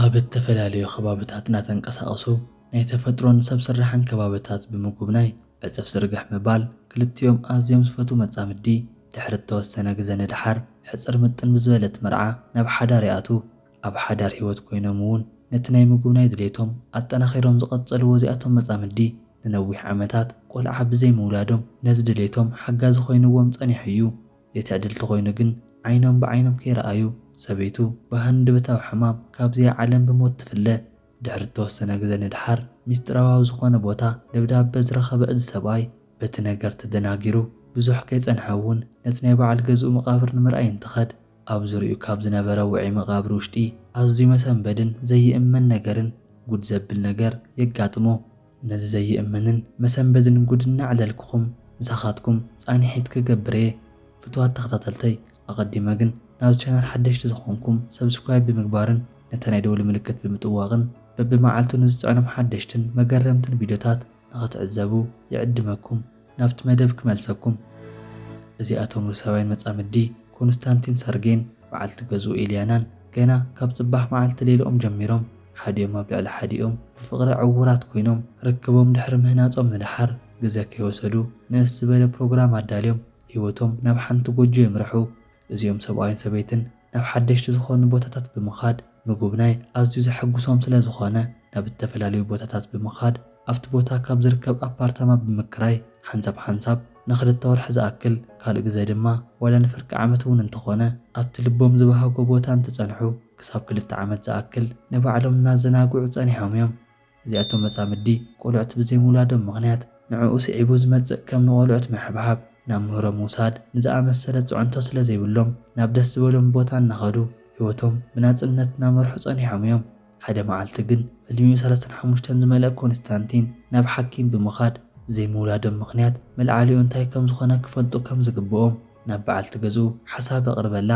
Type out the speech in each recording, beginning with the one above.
ኣብ እተፈላለዩ ኸባብታት እናተንቀሳቐሱ ናይ ተፈጥሮን ሰብ ስራሕን ከባብታት ብምጉብናይ ዕፅፍ ዝርግሕ ምባል ክልቲኦም ኣዝዮም ዝፈትዉ መፃምዲ ድሕሪ እተወሰነ ግዘ ንደሓር ሕፅር ምጥን ብዝበለት መርዓ ናብ ሓዳር ይኣትዉ። ኣብ ሓዳር ህይወት ኮይኖም እውን ነቲ ናይ ምጉብናይ ድሌቶም ኣጠናኺሮም ዝቐፀልዎ እዚኣቶም መፃምዲ ንነዊሕ ዓመታት ቆልዓ ብዘይምውላዶም ነዚ ድሌቶም ሓጋዚ ኮይንዎም ፀኒሑ እዩ። የትዕድልቲ ኮይኑ ግን ዓይኖም ብዓይኖም ከይረኣዩ ሰበይቱ ብሃንደበታዊ ሕማም ካብዚኣ ዓለም ብሞት ትፍለ። ድሕሪ እተወሰነ ግዘ ንደሓር ሚስጢራዊ ኣብ ዝኾነ ቦታ ደብዳበ ዝረኸበ እዚ ሰብኣይ በቲ ነገር ተደናጊሩ ብዙሕ ከይፀንሐ እውን ነቲ ናይ በዓል ገዝኡ መቓብር ንምርኣይ እንትኸድ ኣብ ዙርይኡ ካብ ዝነበረ ውዑይ መቓብር ውሽጢ ኣዝዩ መሰንበድን ዘይእመን ነገርን ጉድ ዘብል ነገር የጋጥሞ። ነዚ ዘይእመንን መሰንበድን ጉድ እናዕለልኩኹም ምሳኻትኩም ፃኒሒት ክገብር እየ ፍትዋት ተኸታተልተይ ኣቐዲመ ግን ናብዚ ቻናል ሓደሽቲ ዝኾንኩም ሰብስክራይብ ብምግባርን ነቲ ናይ ደውሊ ምልክት ብምጥዋቕን በቢመዓልቱ ንዝፅዕኖም ሓደሽትን መገረምትን ቪድዮታት ንኽትዕዘቡ ይዕድመኩም ናብቲ መደብ ክመልሰኩም። እዚኣቶም ሩስያውያን መጻምዲ ኮንስታንቲን ሰርጌን በዓልቲ ገዝኡ ኤልያናን ገና ካብ ጽባሕ መዓልቲ ሌልኦም ጀሚሮም ሓዲኦም ኣብ ልዕሊ ሓዲኦም ብፍቕሪ ዕዉራት ኮይኖም ርክቦም ድሕሪ ምህናጾም ንደሓር ግዘ ከይወሰዱ ንእስ ዝበለ ፕሮግራም ኣዳልዮም ህይወቶም ናብ ሓንቲ ጎጆ የምርሑ። እዚኦም ሰብኣይን ሰበይትን ናብ ሓደሽቲ ዝኾኑ ቦታታት ብምኻድ ምጉብናይ ኣዝዩ ዘሐጉሶም ስለ ዝኾነ ናብ እተፈላለዩ ቦታታት ብምኻድ ኣብቲ ቦታ ካብ ዝርከብ ኣፓርታማ ብምክራይ ሓንሳብ ሓንሳብ ንኽልተ ወርሒ ዝኣክል ካልእ ግዘ ድማ ዋላ ንፍርቂ ዓመት እውን እንተኾነ ኣብቲ ልቦም ዝበሃጎ ቦታ እንትፀንሑ ክሳብ ክልተ ዓመት ዝኣክል ንባዕሎም እናዘናግዑ ፀኒሖም እዮም። እዚኣቶም መጻምዲ ቆልዑት ብዘይምውላዶም ምኽንያት ንዕኡ ስዒቡ ዝመጽእ ከም ንቆልዑት ምሕብሓብ፣ ናብ ምህሮ ምውሳድ ንዝኣመሰለ ጽዕንቶ ስለ ዘይብሎም ናብ ደስ ዝበሎም ቦታ እናኸዱ ህይወቶም ብናጽነት እናመርሑ ጸኒሖም እዮም። ሓደ መዓልቲ ግን ዕድሚኡ ሰለስተን ሓሙሽተን ዝመልኣ ኮንስታንቲን ናብ ሓኪም ብምኻድ ዘይምውላዶም ምኽንያት መልዓሊኡ እንታይ ከም ዝኾነ ክፈልጡ ከም ዝግብኦም ናብ በዓልቲ ገዝኡ ሓሳብ ኣቕርበላ።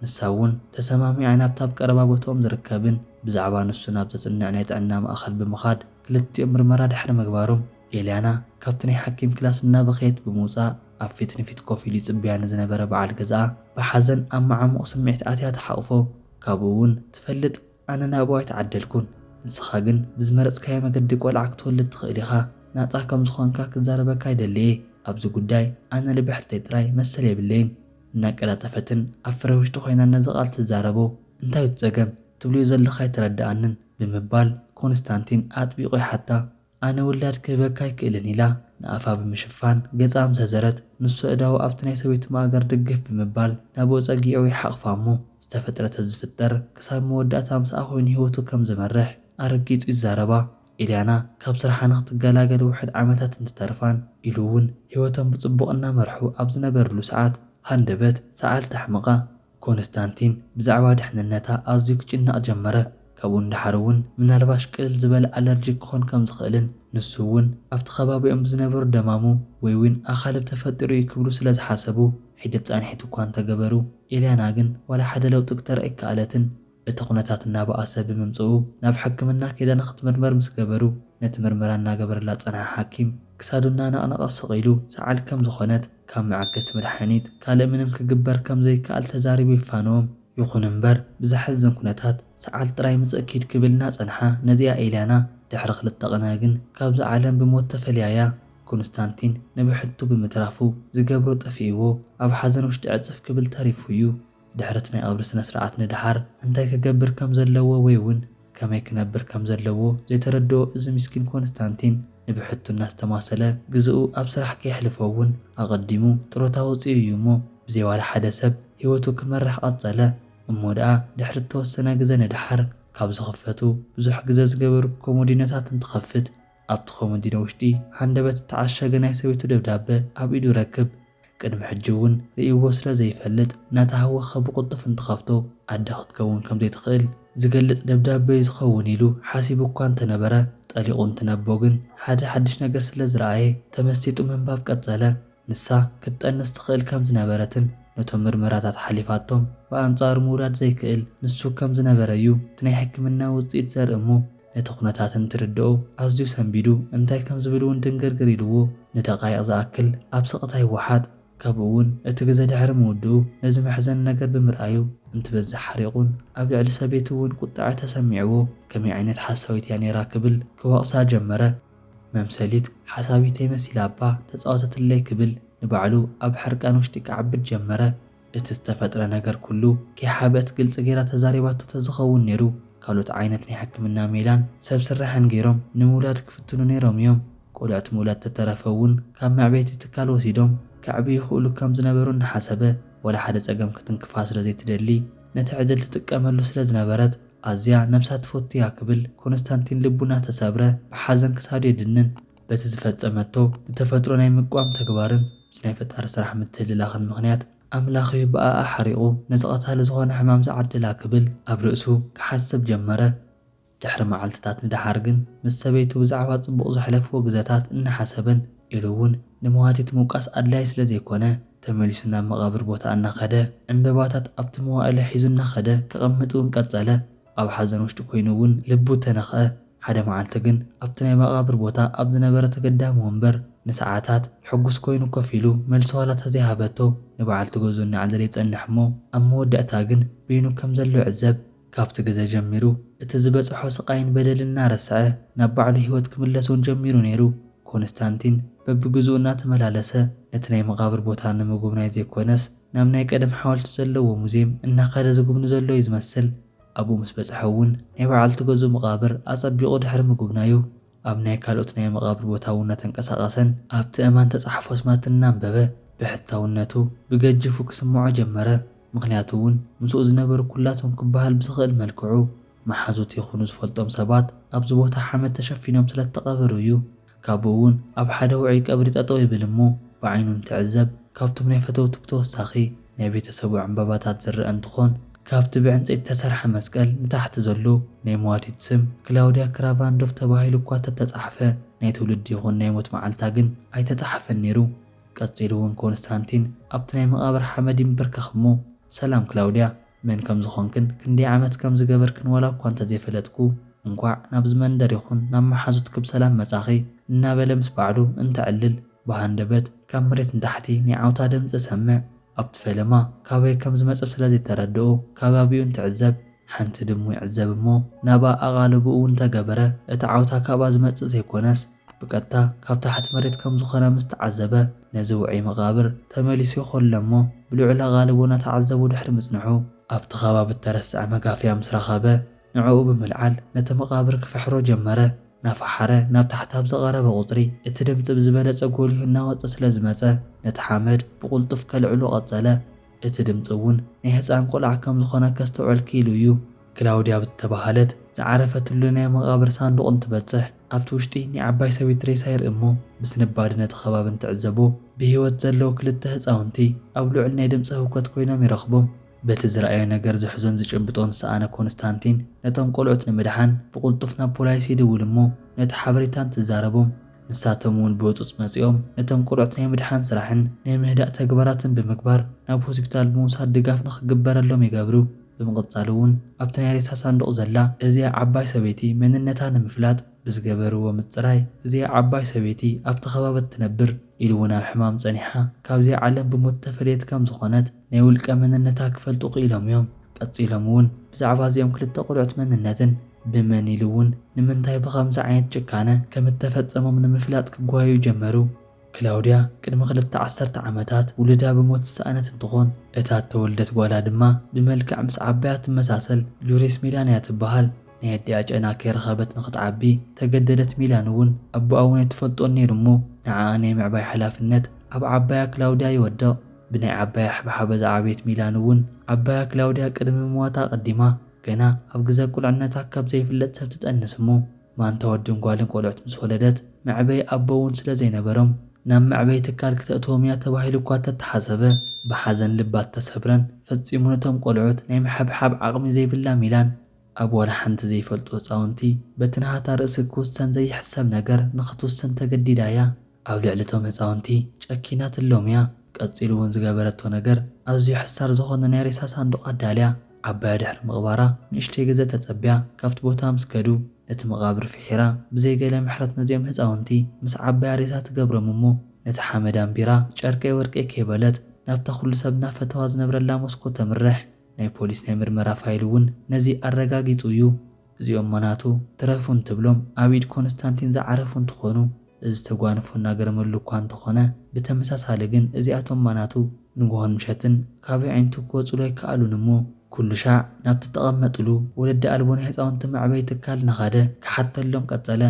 ንሳ እውን ተሰማሚዓ ናብቲ ኣብ ቀረባ ቦትኦም ዝርከብን ብዛዕባ ንሱ ናብ ዘጽንዕ ናይ ጥዕና ማእከል ብምኻድ ክልቲኦም ምርመራ ድሕሪ ምግባሮም፣ ኤልያና ካብቲ ናይ ሓኪም ክላስ እናበኸየት ብምውጻእ ኣብ ፊት ንፊት ኮፍ ኢሉ ይጽበያ ንዝነበረ በዓል ገዝኣ ብሓዘን ኣብ መዓሙቕ ስምዒት ኣትያ ትሓቑፎ። ካብኡ እውን ትፈልጥ ኣነ ናብኡ ኣይተዓደልኩን፣ ንስኻ ግን ብዝመረጽካዮ መገዲ ቆልዓ ክትወልድ ትኽእል ኢኻ፣ ናጻ ከም ዝኾንካ ክዛረበካ ይደሊ እየ፣ ኣብዚ ጉዳይ ኣነ ልብሕተይ ጥራይ መሰል የብለይን። እናቀላጠፈትን ኣብ ፍረ ውሽጢ ኮይናን ነዚ ቃል ትዛረቦ፣ እንታዩ እቲ ጸገም? ትብልዮ ዘለኺ ኣይተረድኣንን፣ ብምባል ኮንስታንቲን ኣጥቢቑ ይሓታ። ኣነ ውላድ ክህበካ ኣይክእልን፣ ኢላ ንኣፋ ብምሽፋን ገጻ ምስ ኣዘረት፣ ንሱ ኣእዳዉ ኣብቲ ናይ ሰበይቱ ማእገር ድግፍ ብምባል ናብኡ ጸጊዑ ይሓቑፋ እሞ ዝተፈጥረ ተዝፍጠር ክሳብ መወዳእታ ምስኣ ኮይኑ ህይወቱ ከም ዝመርሕ ኣረጊጹ ይዛረባ። ኢልያና ካብ ስርሓ ንኽትገላገል ውሑድ ዓመታት እንትተርፋን ኢሉ እውን ህይወቶም ብጽቡቕ እናመርሑ ኣብ ዝነበርሉ ሰዓት ሃንደበት ሰዓል ተሕምቓ። ኮንስታንቲን ብዛዕባ ድሕንነታ ኣዝዩ ክጭነቕ ጀመረ፣ ካብኡ ንደሓር እውን ምናልባሽ ቅልል ዝበለ ኣለርጂክ ክኾን ከም ዝኽእልን ንሱ እውን ኣብቲ ከባቢኦም ብዝነበሩ ደማሙ ወይውን ኣኻልብ ተፈጢሩ እዩ ክብሉ ስለ ዝሓሰቡ ሒደት ጻንሒት እኳ እንተገበሩ ኢልያና ግን ዋላ ሓደ ለውጢ ክተርኢ ኣይከኣለትን። እቲ ኩነታት እናበኣሰ ብምምፅኡ ናብ ሕክምና ከይዳ ንክትምርመር ምስ ገበሩ ነቲ ምርመራ እናገበረላ ዝፀንሐ ሓኪም ክሳዱ እናነቕነቐ ስቕ ኢሉ ሰዓል ከም ዝኾነት ካብ መዐገሲ መድሓኒት ካልእ ምንም ክግበር ከም ዘይከኣል ተዛሪቡ የፋንዎም። ይኹን እምበር ብዘሕዝን ኩነታት ሰዓል ጥራይ ምፅእ ኪድ ክብል እናፀንሓ ነዚኣ ኤልያና ድሕሪ ክልተ ቕነ ግን ካብዛ ዓለም ብሞት ተፈልያ እያ። ኮንስታንቲን ንብሕቱ ብምትራፉ ዝገብሮ ጠፊእዎ ኣብ ሓዘን ውሽጢ ዕፅፍ ክብል ተሪፉ እዩ። ድሕሪ'ቲ ናይ ቐብሪ ስነ-ስርዓት ንደሓር እንታይ ክገብር ከም ዘለዎ ወይ'ውን ከመይ ክነብር ከም ዘለዎ ዘይተረድኦ እዚ ምስኪን ኮንስታንቲን ንብሕቱ እናስተማሰለ ግዘኡ ኣብ ስራሕ ከየሕልፎ'ውን ኣቐዲሙ ጥሮታ ወጺኡ እዩ እሞ ብዘይ ዋላ ሓደ ሰብ ህይወቱ ክመርሕ ቐጸለ። እሞ ደኣ ድሕሪ እተወሰነ ግዘ ንደሓር ካብ ዝኽፈቱ ብዙሕ ግዘ ዝገበሩ ኮሞዲኖታት እንትኸፍት ኣብቲ ኮመዲኖ ውሽጢ ሃንደበት ዝተዓሸገ ናይ ሰበይቱ ደብዳበ ኣብ ኢዱ ይረክብ። ቅድሚ ሕጂ እውን ርእይዎ ስለ ዘይፈልጥ እናተሃወኸ ብቕልጡፍ እንትኸፍቶ ኣደ ክትከውን ከም ዘይትኽእል ዝገልጽ ደብዳበ'ዩ ዝኸውን ኢሉ ሓሲቡ እኳ እንተነበረ ጠሊቑ እንትነቦ ግን ሓደ ሓድሽ ነገር ስለ ዝረኣየ ተመሲጡ ምንባብ ቀጸለ። ንሳ ክትጠንስ ትኽእል ከም ዝነበረትን ነቶም ምርመራታት ሓሊፋቶም ብኣንጻሩ ምውላድ ዘይክእል ንሱ ከም ዝነበረ'ዩ እቲ ናይ ሕክምና ውጽኢት ዘርኢ እሞ ነቲ ኩነታት እንትርድኦ ኣዝዩ ሰንቢዱ እንታይ ከም ዝብል እውን ድንግርግር ኢሉዎ ንደቓይቕ ዝኣክል ኣብ ስቕታ ይወሓጥ። ካብኡ እውን እቲ ግዘ ድሕሪ ምውድኡ ነዚ መሕዘኒ ነገር ብምርኣዩ እንትበዝሕ ሓሪቑን ኣብ ልዕሊ ሰበይቱ እውን ቁጥዐ ተሰሚዕዎ ከመይ ዓይነት ሓሳዊት እያ ነይራ ክብል ክወቕሳ ጀመረ። መምሰሊት ሓሳዊተይ መሲላ እባ ተፃወተትለይ ክብል ንባዕሉ ኣብ ሕርቃን ውሽጢ ክዓብድ ጀመረ። እቲ ዝተፈጥረ ነገር ኩሉ ከይሓብአት ግልፂ ገይራ ተዛሪባቶ ተዝኸውን ነይሩ ካልኦት ዓይነት ናይ ሕክምና ሜላን ሰብ ስራሕን ገይሮም ንምውላድ ክፍትኑ ነይሮም እዮም። ቆልዑት ምውላድ ተተረፈ እውን ካብ መዕበይቲ ትካል ወሲዶም ከዕብዩ ይኽእሉ ከም ዝነበሩ እናሓሰበ ዋላ ሓደ ፀገም ክትንክፋ ስለ ዘይትደሊ ነቲ ዕድል ትጥቀመሉ ስለ ዝነበረት ኣዝያ ነብሳ ትፈቱ እያ ክብል ኮንስታንቲን ልቡ እናተሰብረ ብሓዘን ክሳዱ የድንን። በቲ ዝፈጸመቶ ንተፈጥሮ ናይ ምቅዋም ተግባርን ምስ ናይ ፈጣሪ ስራሕ ምትህልላኽን ምኽንያት ኣምላኽ'ዩ ብኣኣ ሓሪቑ ነቲ ቀታሊ ዝኾነ ሕማም ዝዓደላ ክብል ኣብ ርእሱ ክሓስብ ጀመረ። ድሕሪ መዓልትታት ንደሓር ግን ምስ ሰበይቱ ብዛዕባ ጽቡቕ ዘሕለፍዎ ግዘታት እናሓሰበን ኢሉ'ውን ንመዋቲት ምውቃስ ኣድላዪ ስለ ዘይኮነ ተመሊሱ ናብ መቓብር ቦታ እናኸደ ዕንበባታት ኣብቲ መዋእለ ሒዙ እናኸደ ከቐምጥ'ውን ቀጸለ። ኣብ ሓዘን ውሽጢ ኮይኑ እውን ልቡ ተነኽኣ። ሓደ መዓልቲ ግን ኣብቲ ናይ መቓብር ቦታ ኣብ ዝነበረ ተገዳሚ ወንበር ንሰዓታት ሕጉስ ኮይኑ ኮፍ ኢሉ መልሲ ዋላ ተዘይሃበቶ ንበዓልቲ ገዝኡ እናዕለለ ይጸንሕ እሞ ኣብ መወዳእታ ግን በይኑ ከም ዘሎ ይዕዘብ። ካብቲ ግዘ ጀሚሩ እቲ ዝበጸሖ ስቓይን በደልን እናረስዐ ናብ ባዕሉ ህይወት ክምለስ እውን ጀሚሩ ነይሩ። ኮንስታንቲን በብግዝኡ እናተመላለሰ ነቲ ናይ መቓብር ቦታ ንምጉብናይ ዘይኮነስ፣ ናብ ናይ ቀደም ሓወልቲ ዘለዎ ሙዝየም እናኸደ ዝጉብኒ ዘሎ እዩ ዝመስል። ኣብኡ ምስ በጽሐ እውን ናይ በዓልቲ ገዝኡ መቓብር ኣጸቢቑ ድሕሪ ምጉብናዩ፣ ኣብ ናይ ካልኦት ናይ መቓብር ቦታ እውን እናተንቀሳቐሰን ኣብቲ ኣእማን እተጻሕፉ ኣስማት እናንበበ ብሕታውነቱ ብገጅፉ ክስምዖ ጀመረ። ምኽንያቱ እውን ምስኡ ዝነበሩ ኩላቶም ክበሃል ብዝኽእል መልክዑ መሓዙት ይኹኑ ዝፈልጦም ሰባት ኣብዚ ቦታ ሓመድ ተሸፊኖም ስለ እተቐበሩ እዩ። ካብኡ እውን ኣብ ሓደ ውዑይ ቀብሪ ጠጠው ይብል እሞ ብዓይኑ እንትዕዘብ ካብቶም ናይ ፈተውቱ ብተወሳኺ ናይ ቤተሰቡ ዕንባባታት ዝረኣ እንትኾን ካብቲ ብዕንፀይቲ ዝተሰርሐ መስቀል ንታሕቲ ዘሎ ናይ መዋቲት ስም ክላውድያ ክራቫንዶፍ ተባሂሉ እኳ ተተፃሕፈ ናይ ትውልዲ ይኹን ናይ ሞት መዓልታ ግን ኣይተፃሓፈን ነይሩ። ቀፂሉ እውን ኮንስታንቲን ኣብቲ ናይ መቓብር ሓመድ ይምብርከኽ እሞ ሰላም ክላውድያ! መን ከም ዝኾንክን ክንደይ ዓመት ከም ዝገበርክን ዋላ እኳ እንተ ዘይፈለጥኩ፣ እንኳዕ ናብዚ መንደር ይኹን ናብ መሓዙትኪ ብሰላም መጻኺ እናበለ ምስ ባዕሉ እንተዕልል ብሃንደበት ካብ መሬት ንታሕቲ ናይ ዓውታ ድምጺ እሰምዕ። ኣብቲ ፈለማ ካበይ ከም ዝመጸ ስለ ዘይተረድኦ ከባቢኡ እንትዕዘብ ሓንቲ ድሙ ይዕዘብ እሞ ናብኣ ኣቓልቦኡ እንተ ገበረ እቲ ዓውታ ካብኣ ዝመጽእ ዘይኮነስ ብቀጥታ ካብ ታሕቲ መሬት ከም ዝኾነ ምስ ተዓዘበ ነዚ ውዑይ መቓብር ተመሊሱ ይኾለ እሞ ብልዑል ኣቓልቦ እናተዓዘቡ ድሕሪ ምጽንሑ፣ ኣብቲ ከባቢ እተረስዐ መጋፍያ ምስ ረኸበ ንዕኡ ብምልዓል ነቲ መቓብር ክፍሕሮ ጀመረ። እናፈሓረ ናብ ታሕቲ ኣብ ዝቐረበ ቁጽሪ እቲ ድምጺ ብዝበለጸ ጎሊሁ እናወጸ ስለ ዝመጸ ነቲ ሓመድ ብቕልጡፍ ከልዕሎ ቀጸለ። እቲ ድምጺ እውን ናይ ህጻን ቆልዓ ከም ዝኾነ ከስተውዕል ክኢሉ እዩ። ክላውድያ ብዝተባህለት ዝዓረፈትሉ ናይ መቓብር ሳንዱቕ እንትበጽሕ፣ ኣብቲ ውሽጢ ናይ ዓባይ ሰበይቲ ሬሳ ይርኢ እሞ ብስንባደ ነቲ ከባቢ እንትዕዘቦ ብህይወት ዘለዉ ክልተ ህፃውንቲ ኣብ ልዑል ናይ ድምፂ ህውከት ኮይኖም ይረኽቦም። በቲ ዝረኣዮ ነገር ዝሕዞን ዝጭብጦን ዝሰኣነ ኮንስታንቲን ነቶም ቆልዑት ንምድሓን ብቕልጡፍ ናብ ፖላይስ ይድውል እሞ ነቲ ሓበሬታ እንትዛረቦም ንሳቶም እውን ብህፁፅ መፂኦም ነቶም ቆልዑት ናይ ምድሓን ስራሕን ናይ ምህዳእ ተግባራትን ብምግባር ናብ ሆስፒታል ብምውሳድ ድጋፍ ንኽግበረሎም ይገብሩ። ብምቕጻል እውን ኣብቲ ናይ ሬሳ ሳንዱቕ ዘላ እዚኣ ዓባይ ሰበይቲ መንነታ ንምፍላጥ ብዝገበርዎ ምጽራይ እዚኣ ዓባይ ሰበይቲ ኣብቲ ከባቢ እትነብር ኢሉ እውን ኣብ ሕማም ጸኒሓ ካብዚኣ ዓለም ብሞት እተፈለየት ከም ዝኾነት ናይ ውልቀ መንነታ ክፈልጡ ክኢሎም እዮም። ቀጺሎም እውን ብዛዕባ እዚኦም ክልተ ቆልዑት መንነትን ብመን ኢሉ እውን ንምንታይ ብኸምዚ ዓይነት ጭካነ ከም እተፈጸሞም ንምፍላጥ ክጓየዩ ጀመሩ። ክላውድያ ቅድሚ ክልተ ዓሰርተ ዓመታት ውሉዳ ብሞት ዝሰኣነት እንትኾን እታ እተወልደት ጓላ ድማ ብመልክዕ ምስ ዓባያ እትመሳሰል ጁሪስ ሚላን እያ ትበሃል። ናይ ኣዲኣ ጨና ከይረኸበት ንኽትዓቢ ተገደደት ሚላን እውን ኣቦኣ እውን ኣይትፈልጦን ነይሩ እሞ ንዓኣ ናይ ምዕባይ ሓላፍነት ኣብ ዓባያ ክላውድያ ይወድቕ። ብናይ ዓባያ ሕብሓበ ዝዓበየት ሚላን እውን ዓባያ ክላውድያ ቅድሚ ምሟታ ኣቐዲማ ገና ኣብ ግዘ ቁልዕነታ ካብ ዘይፍለጥ ሰብ ትጠንስ እሞ ማንታ ወድን ጓልን ቆልዑት ምስ ወለደት፣ መዕበዪ ኣቦ እውን ስለ ዘይነበሮም፣ ናብ መዕበዪ ትካል ክተእትዎም እያ ተባሂሉ እኳ እተተሓሰበ፣ ብሓዘን ልባት ተሰብረን፣ ፈጺሙ ነቶም ቆልዑት ናይ ምሕብሓብ ዓቕሚ ዘይብላ ሚላን፣ ኣብ ዋላ ሓንቲ ዘይፈልጡ ህጻውንቲ፣ በቲ ናሃታ ርእሲ ክውሰን ዘይሕሰብ ነገር ንኽትውስን ተገዲዳ እያ። ኣብ ልዕሊ እቶም ህጻውንቲ ጨኪና ትሎም'ያ፣ ቀጺሉ ውን ዝገበረቶ ነገር ኣዝዩ ሕሳር ዝኾነ ናይ ሬሳ ሳንዱቕ ኣዳልያ፣ ዓባያ ድሕሪ ምቕባራ ንእሽተይ ግዘ ተጸብያ ካብቲ ቦታ ምስ ከዱ ነቲ መቓብር ፍሒራ ብዘይ ገለ ምሕረት ነዚኦም ህጻውንቲ ምስ ዓባያ ሬሳ ትገብሮም እሞ ነቲ ሓመድ ኣንቢራ ጨርቀይ ወርቀይ ከይበለት ናብታ ኩሉ ሰብ እናፈተዋ ዝነብረላ ሞስኮ ተምርሕ። ናይ ፖሊስ ናይ ምርመራ ፋይል ውን ነዚ ኣረጋጊጹ እዩ። እዚኦም ማናቱ ትረፉ እንትብሎም ኣብ ኢድ ኮንስታንቲን ዝዓረፉ እንትኾኑ እዚ ተጓንፎ እናገረመሉ እኳ እንተኾነ ብተመሳሳሊ ግን እዚኣቶም ማናቱ ንጉሆን ምሸትን ካብ የዒንቱ ክወፅሉ ኣይከኣሉን እሞ ኩሉሻዕ ናብቲ እተቐመጥሉ ወለዲ ኣልቦ ናይ ህፃውንቲ መዕበዪ ትካል እናኻደ ክሓተሎም ቀፀለ።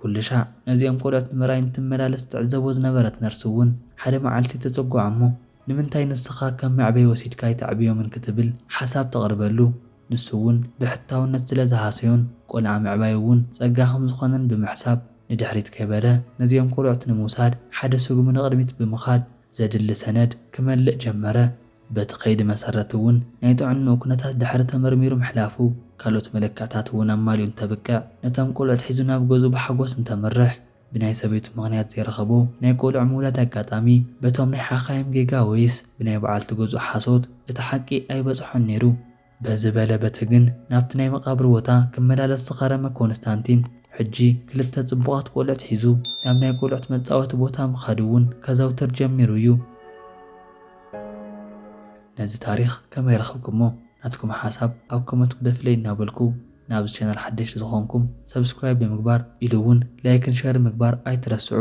ኩሉሻዕ ነዚኦም ቆልዑት ንምርኣይ እንትመላለስ ትዕዘቦ ዝነበረት ነርስ እውን ሓደ መዓልቲ ተፀጉዓ እሞ ንምንታይ ንስኻ ከም መዕበዪ ወሲድካ ኣይተዕብዮምን ክትብል ሓሳብ ተቕርበሉ። ንሱ'ውን ብሕታውነት ስለ ዝሃሰዮን ቆልዓ ምዕባዩ'ውን ጸጋ ከም ዝኾነን ብምሕሳብ፣ ንድሕሪት ከይበለ ነዚኦም ቆልዑት ንምውሳድ ሓደ ስጉሚ ንቕድሚት ብምኻድ ዘድሊ ሰነድ ክመልእ ጀመረ። በቲ ከይዲ መሰረት'ውን ናይ ጥዕንኡ ኩነታት ድሕሪ ተመርሚሩ ምሕላፉ፣ ካልኦት መለክዕታት'ውን ኣማሊኡ እንተብቅዕ ነቶም ቆልዑት ሒዙ ናብ ገዝኡ ብሓጎስ እንተምርሕ፣ ብናይ ሰበይቱ ምኽንያት ዘይረኸቦ ናይ ቆልዑ ምውላድ ኣጋጣሚ በቶም ናይ ሓኻይም ጌጋ ወይስ ብናይ በዓልቲ ገዝኡ ሓሶት እቲ ሓቂ ኣይበጽሖን ነይሩ። በዚ በለ በቲ ግን ናብቲ ናይ መቓብር ቦታ ክመላለስ ዝኸረመ ኮንስታንቲን ሕጂ ክልተ ጽቡቓት ቆልዑት ሒዙ ናብ ናይ ቆልዑት መጻወቲ ቦታ ምኻድ እውን ከዘውትር ጀሚሩ እዩ። ነዚ ታሪኽ ከመይ ረኽብኩሞ? ናትኩም ሓሳብ ኣብ ኮመንት ግደፍለይ እናበልኩ፣ ናብዚ ቻናል ሓደሽቲ ዝኾንኩም ሰብስክራይብ ብምግባር ኢሉ እውን ላይክን ሸርን ምግባር ኣይትረስዑ።